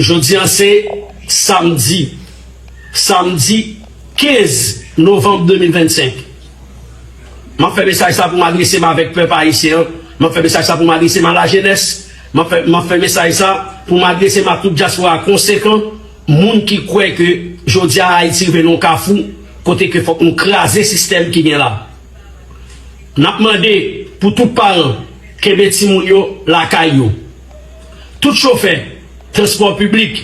Jodi a se Samdi Samdi 15 Novanm 2025 M ap fè mesaj sa pou m adrese m avèk pèp Ayisyen an M ap fè mesaj sa pou m adrese m a lajenès M ap fè m ap fè mesaj sa pou m adrese m a tout dyaspora konsekan Moun ki kwè ke jodi a Ayiti rive nan yon kafou kote ke fòk nou kraze sistèm ki gen la N ap mande pou tout paran kenbe timoun yo lakay yo. Tout chofè transpò piblik,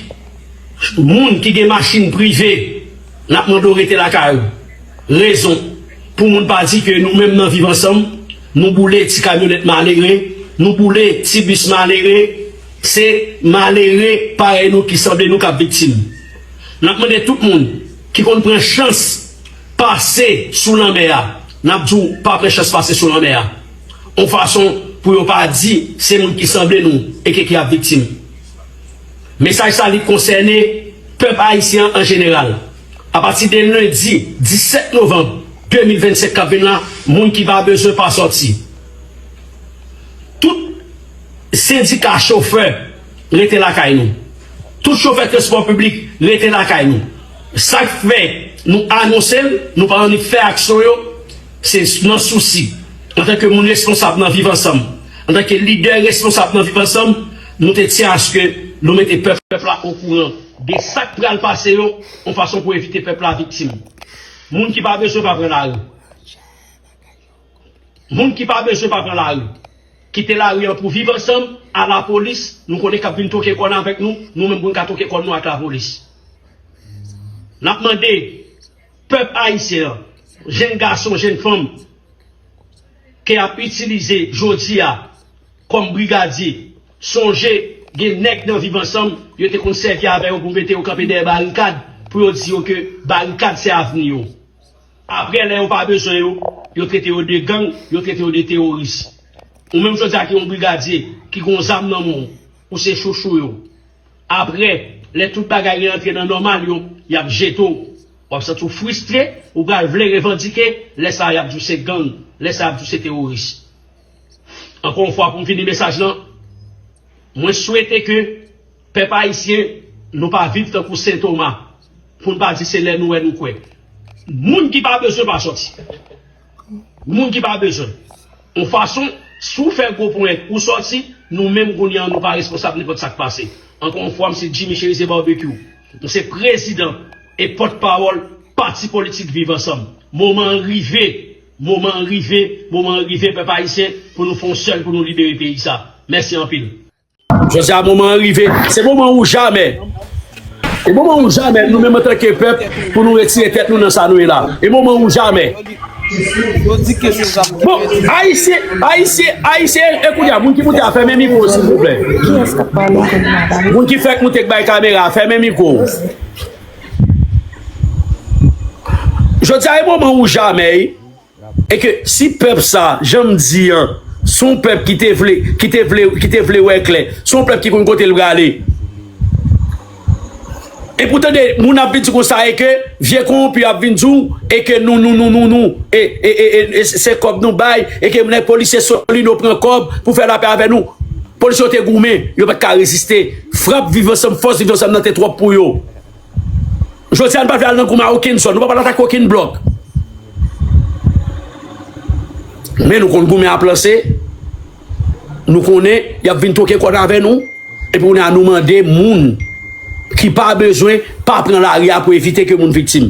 moun ki gen machin prive, n ap mande w rete lakay ou. Rezon, pou moun pa di ke nou menm nan Viv Ansanm, nou boule ti kamyonèt malere, nou boule ti bis malere, se malere parèy nou ki sanble nou k ap viktim. N ap mande tout moun ki konn pran chans pase sou lanmè a, n ap di w pa pran chans pase sou lanmè a. yon fason pou yo pa di se moun ki sanble nou eke ki ap viktim. Mesaj sa li konsène pèp ayisyen an an jeneral. Apati de lendi 17 novanm 2025 k ap vin la, moun ki pa bezwen pa sòti. Tout sendika chofè rete lakay nou. Tout chofè transpò piblik rete lakay nou. Sa k fè nou anonse l, nou pa annik fè aksyon yo. Se nan sousi, antanke moun responsab nan Viv Ansanm, antanke lidè responsab nan Viv Ansanm, nou te tyen aske nou mete pèp la okouran de sa k pral pase yo, yon fason pou evite pèp la viktim. Moun ki pa bezwen pa pran lari. Moun ki pa bezwen pa pran lari. Kite lari an pou Viv Ansanm, a lapolis, nou konnen k ap vin twoke kòn avèk nou, nou menm pou n ka twoke kòn nou ak lapolis. N ap mande. Pèp Ayisyen an, jenn gason, jenn fanm ke yap itilize jodi a kòm brigadye, sonje gen nèg nan Viv Ansanm yo te konn sèvi avè yo pou mete yo kanpe dèyè barikad pou yo di yo ke barikad se avni yo. Aprè lè yo pa bezwen yo, yo trete yo de gang, yo trete yo de teworis. Ou menm jodi a ki yon brigadye, ki gon zam nan men w, ou se chouchou yo. Apre, lè tout bagay reantre nan nòmal yo, y ap jete w. W ap santi w fristre, ou pral vle revandike, lè sa a y ap di w se gang, lè sa a y ap di w se teworis. Ankò yon fwa pou m fini mesaj lan, mwen swete ke pèp ayisyen nou pa viv tankou Sen Toma, pou n pa di se lè nou wè nou kwè. Moun ki pa bezwen pa sòti. Moun ki pa bezwen w. On fason, si w fè gwo ponyèt ou sòti, nou menm kounye an nou pa responsab nenpòt sa k pase. Ankò on fwa m se Jimmy Cherizier Barbecue. M se prezidan e pòt pawòl pati politik Viv Ansanm. Moman an rive, moman an rive, moman an rive pèp ayisyen pou nou fè on sèl pou nou libere peyi sa. Mèsi anpil. Jodi a moman an rive, se moman ou jamè. E moman ou jamè nou menm an tanke pèp pou nou retire tèt nou nan sa nou ye la. E moman ou jamè. Bon, Ayisyen, Ayisyen, Ayisyen, e kounye a moun ki moute a fèmen mikwo w silvouplè. Moun ki fèk moute k bay kamera a fèmen mikwo w. Jodi a e moman ou jamè. E ke si pèp sa, jan m di an, se yon pèp ki te vle, ki te vle, ki te vle wè klè, se yon pèp ki konn kote l prale. E pou tande moun ap vin di konsa e ke vye kowonpi ap vin di w e ke nou, nou, nou, nou, nou e, e, e, e, e se kòb nou bay e ke nèg polisye Solino pran kòb pou fè lapè avè nou. Polisye yo te goumen, yo pa t ka reziste. Frap Viv Ansanm, fòs Viv Ansanm nan te twòp pou yo. Jodi a nou pa vle al nan gouma okenn zòn, nou pa pral atake okenn blòk. Men nou konn goumen ap lanse, nou konnen y ap vin twoke kòd avè nou, epi kounye a nou mande moun ki pa bezwen pa pran lari a pou evite ke moun viktim.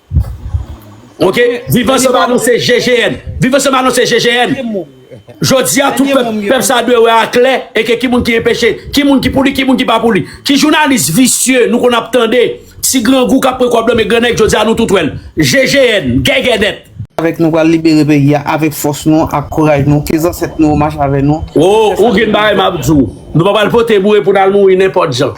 Ok viv ansanm anonse GGN viv ansanm anonse GGN Jodi a tout pèp pèp sa dwe wè a klè e ke ki moun ki enpeche ki moun ki pou li ki moun ki pa pou li ki jounalis visye nou konn ap tande ti grangou kap pran kòb lan men gran nèg jodi a nou tout wèl GGN gègèdèt. Avèk nou pral libere peyi a avèk fòs nou ak kouraj nou ke zansèt nou yo mache avè nou. Woo ou gin bagay map di w nou pa pral pote boure pou nal mouri nenpòt jan.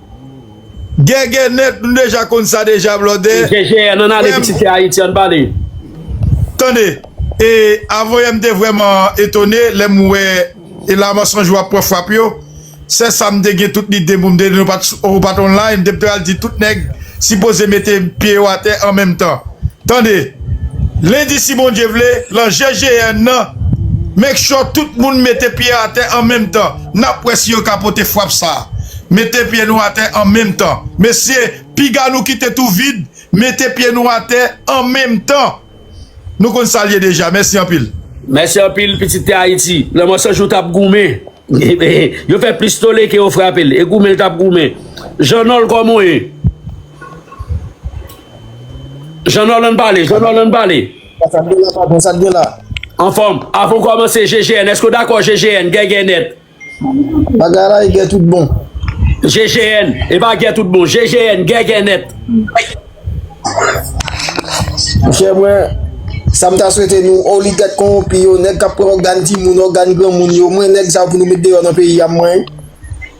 Gègè nèt nou deja konn sa deja blòdè frèm Tande e avoyèm te vrèman etone lèm wè e la mansonj ou ap pran frap yo sèsam te gen tout lide poum te diw ou pat online m te pral di tout nèg sipoze mete pye yo atè an menm tan tande lendi si Bondye vle lan GGN nan make sure tout moun mete pye atè an menm tan. N ap wè si yo ka pote fwap sa a. Mete pye nou atè an menm tan. Mesye, piga nou kite tou vid, mete pye nou atè an menm tan. Nou konn sa l ye deja. Mèsi anpil. Mèsi anpil, pitit tè Ayiti. Lè Mòso Jou t ap goumen, yo fè plis tole ke yo frape l. E goumen l t ap goumen. Jan Nòl, kòman w ye? Jan Nòl, an n pale. Jan Nòl, an n pale. Sa t gen la patron, sa t gen la? Anfòm, avan w kòmanse GGN, èske w dakò GGN, gè gè nèt? Bagay la e gè tout bon. GGN, e pa gè tout bon, GGN, gè gè nèt. Monchè mwen, sa m ta swete nou oligak konwonpi yo, nèg k ap pran ògàn timoun, ògàn granmoun yo, mwen nèg sa yo pou nou met deyò nan peyi a m mwen.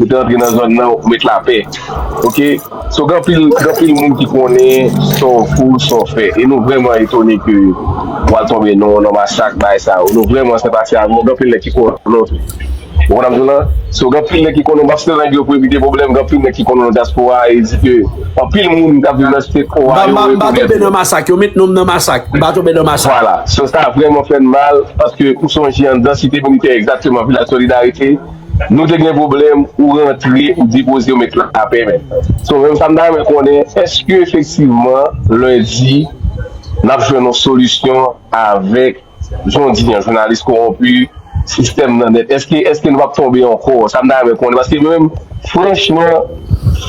Ou te antre nan zòn nan ou met lapè ok so gen anpil gen anpil moun ki konnen sa w kou sa w fè e nou vrèman etone ke w al tonbe nan nan masak bagay sa yo nou vrèman se pase avè w gen anpil nèg ki konnen w tou ou konprann sa m di w la so gen anpil nèg ki konnen w pa site nèg yo pou evite pwoblèm gen anpil nèg ki konnen w nan dyaspora a e di ke anpil moun k ap viv nan site K wa yo m pa tonbe nan masak yo met non m nan masak m pa tonbe nan masak vwala so sa vrèman fè n mal paske ou sonje anndan site militè egzakteman vilaj solidarite Nou te gen pwoblèm ou rantre ou depoze ou met lapè men so menm sa m ta renmen konnen eske efektivman lendi n ap jwenn yon solisyon avèk jondi an jounalis kowonpi sistèm nan nèt eske eske nou p ap tonbe ankò sa m ta renmen konnen paske mwen menm franchman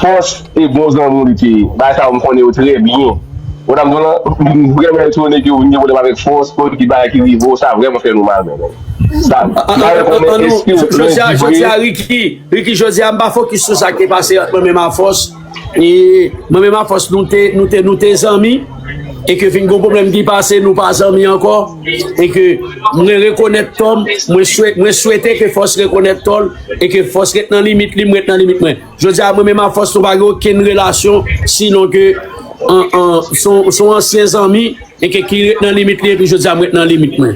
fòs Se bon zanmi w li te ye. Bagay sa yo m konnen yo trè byen. Madam Dolan, m vrèman etone ke ou vin gen pwoblèm avèk fòs kòd ki bagay ki rive w, sa vrèman fè nou mal mezanmi. Sa An mare an konnen an nou eske w jodi a lundi jodi vre. a Ricky Ricky jodi a m pa fokis sou sa k te pase ant mwen menm a fòs e mwen menm a fòs nou te nou te nou te zanmi e ke fin gon pwoblèm ki pase nou pa zanmi ankò e ke mwen rekonèt tò m mwen swete mwen swete ke fòs rekonèt tò l e ke fòs ret nan limit li m ret nan limit mwen. Jodi a mwen menm ak fòs nou pa gen okenn relasyon sinon ke son ansyen zanmi e ke ki ret nan limit li epi jodi a mwen ret nan limit mwen.